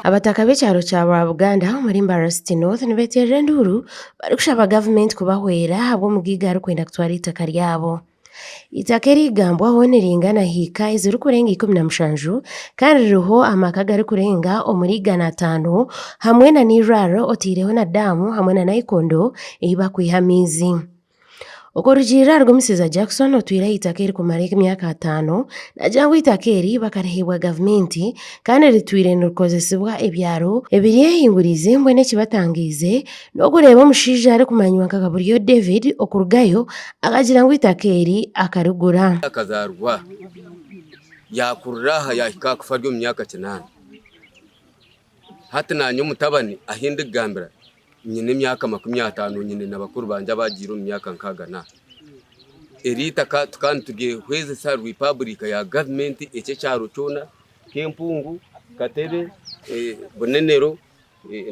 Abataka b'ekyaro kya Rwabuganda omuri Mbarasiti North nibeterera enduuru barikushaba gavumenti kubahwera ahabw'omugaiga arikwenda kutwara eitaka ryabo. Eitaka erigambwaho niringana hiika ezirikurenga ikumi na mushanju kandi ririho amaka agarikurenga omuri igana ataano hamwe n'eirwariro oteireho na daamu hamwe na naikondo ei bakwiha amaizi. Okurugiirira ahari omushaija Jackson otwire aha itaka erikumara emyaka ataano, nagira ngu eitaka eri bakariheebwa gavumenti kandi ritwire nirikozesibwa ebyaro ebiryehinguriize mbwenu ekibatangaize n'okureeba omushaija arikumanywa nka Kaburyo David okurugayo akagira ngu eitaka eri akarigura. Yakazaarwa aha, yaakurira aha yaahika aha kufa ari omu myaka kinaana. Hati naanye omutabani ahi ndikugambira nyine emyaka makumi ataano, nyine na bakuru bangye abaagiire omu myaka nkaaga na aha. Eri eitaka tukaba nituryehwezesa rwi paburika ya gavumenti eki ekyaro kyona Kempungu, Katebe, Bunenero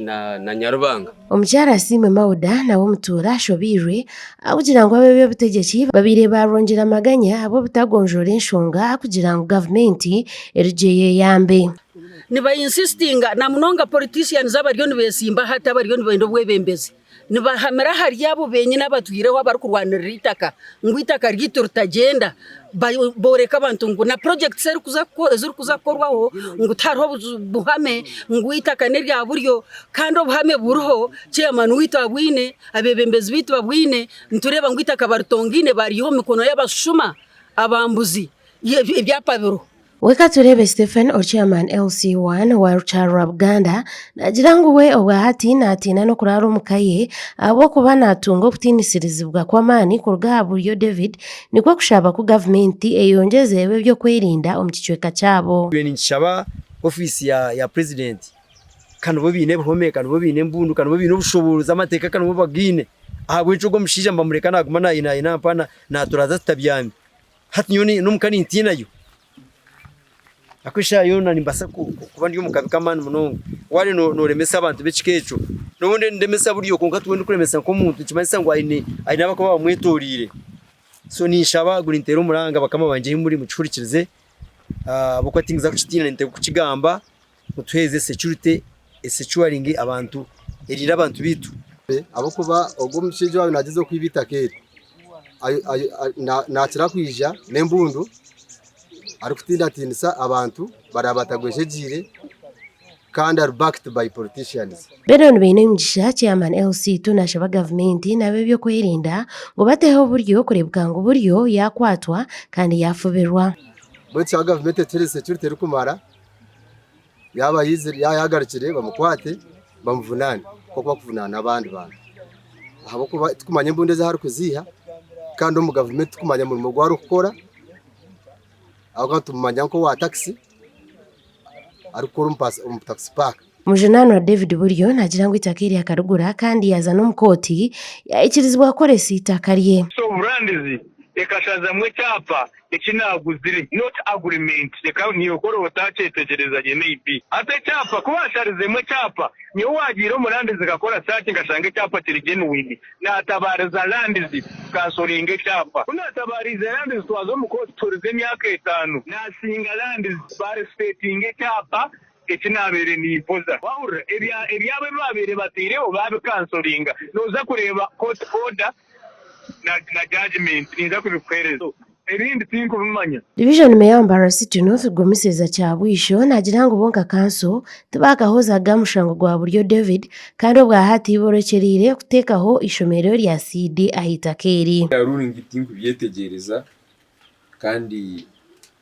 na Nyarubanga. Omukyara Asiimwe Mauda nawe omutuura ashobeirwe ahabw'okugira ngu ab'eby'obutegyeki babaire baarwongyera amaganya ahabw'obutagonjoora enshonga kugira ngu gavumenti erugyeyo eyambe. niba insistinga na munonga politicians abariyo nibesimba hati abariyo nibenda obwebembezi nibahamira ahari abo benyine abatwireho abarikurwanirira itaka ngu itaka ryaitu ritagyenda boreka abantu ngu na projects ezirikuza kukorwaho ngu tihariho buhame ngu itaka nerya buryo kandi obuhame buriho chairman waitu abwine abebembezi baitu babwine nitureba ngu itaka baritongaine baryiha omu mikono yabashushuma abambuzi ebyapa biriho. Weka tureebe Stephen Ochiaman LC1 wa Rukyaro rwa Buganda naagira ngu we obwahati naatiina n'okuraara omu ka ye ahabw'okuba naatunga okutiinisirizibwa kw'amaani kuruga aha buryo David nikwo kushaba ku gavumenti eyongyeze eb'ebyokwerinda omu kicweka kyabo. Nyowe ninkishaba ofiisi ya purezidenti ka nibo baine ebihome ka nibo baine embundu ka nibo baine obushoboorozi amateeka ka nibo bagaine ahabw'enki ogwo omushaija mbamureka naaguma naayinaayina mpaho naaturaaza tutabyami Hati nyowe ni- n'omuka nintiinayo ahaku eshaaha yoona nimbaasa ku- ku- kuba ndi omu kabi k'amaani munonga. Waare no- nooremesa abantu b'ekika ekyo, nyowe nde- ndemesa buri o, kwonka tiwe ndikuremesa nk'omuntu nikimanyisa ngu aine aine abakuba bamwetooriire. So ninshaba gurinteera omuranga bakama bangye ahi muri mukihurikirize ahabw'okuba tinkuza kukitiina ninteeka okukigamba Otuheereze security, esecuringe abantu, eriire abantu baitu. Ahabw'okuba ogwo omushaija owaabaire nagyezaho kwiba eitaka eri, nakira kwija n'embundu arikutindatinisa abantu baraabe batagwejegyeire kandi ari backed by politicians. Benon Bainemigisha, Chairman LC2 naashaba gavumenti n'ab'ebyokwerinda ngu bateho oburyo kureebeka ngu buriyo yaakwatwa kandi yaafubirwa. Mbwenu kishaba gavumenti etuheereze security erikumara. Yaaba aizire, yaaba yaagarukire bamukwate bamuvunaane nk'oku barikuvunaana abandi bantu. Ahabw'okuba tirikumanya embundu ezi arikuziiha kandi omu gavumenti tirikumanya murimo ogu arikukora ahabw'okuba nitumumanya nk'owa takisi arikukora omu takisi paaka. Mujunanwa David Buryo nagira ngu eitaka eri akarigura kandi yaaza n'omu kooti yaikirizibwa kukoresa eitaka rye. Soburandizi ekashazamu ekyapa eki naaguzire not agreement reka niiwe oraba otakyetegyereza gye maybe. Hati ekyapa ku baasharizemu ekyapa nyowe waagiire omurandizi nkakora search nkashanga ekyapa kiri genuine naatabaariza randizi kansoringe ekyapa. Ku naatabaariize randizi twaza omu kooti tuhurize emyaka etaano. Naasinga randizi barespetinge ekyapa Eki naabaire nimpoza. Waahurira ebya ebyabo ebi baabaire bataireho baabikansoringa, nooza kureeba court order na na judgement ninza kubikuheereza. Ebindi tinkubimanya. Division Mayor Mbarara City North Rwomuseeza Kyabwisho naagira ngu bo nka kanso tibaakahozaga mushango gwa Buryo David kandi obwahati ibo orekyereire kuteekaho eishomeero rya Seed ah'eitaka eri. Bya ruling tinkubyetegyereza kandi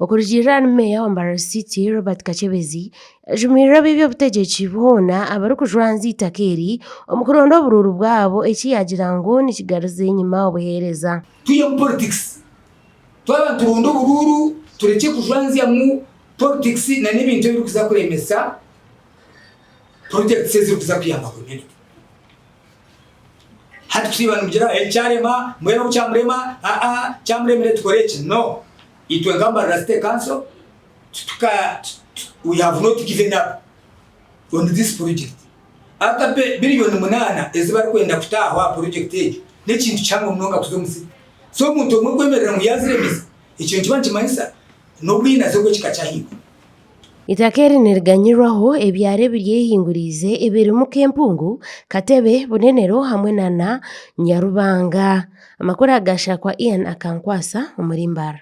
Okurugiirira ahari meeya wa Mbarara City Robert Kakyebezi yajumiriire ab'ebi obutegyeki boona abarikujwanza eitaka eri omu kuronda oburuuru bwabo eki yagira ngu nikigaruza enyima obuheereza. Twije omu politics twaba nituronda oburuuru turekye kujwanzyamu politics nana ebintu ebirikuza kuremesa projects ezirikuza kuyamba community. Hati turiiba nimugira eki kyarema, mbwenu obu kyamurema, aa kyamuremire tukore eki? No. Itwe nka Mbarara City Council tituka, we have not given up on this project. Ata billion munaana ezi barikwenda kutaaho aha project egi, n'ekintu kihango munonga kuza omu city. So omuntu omwe kwemerera ngu yaziremesa, ekyo nikiba nikimanyisa n'obwinazi obw'ekika kya haiguru. Eitaka eri niriganyirwaho ebyaro ebiryehinguririze ebirimu k'empungu, katebe, bunenero hamwe na na Nyarubanga. Amakuru aga Shakwa Ian Akankwasa omuri Mbaara.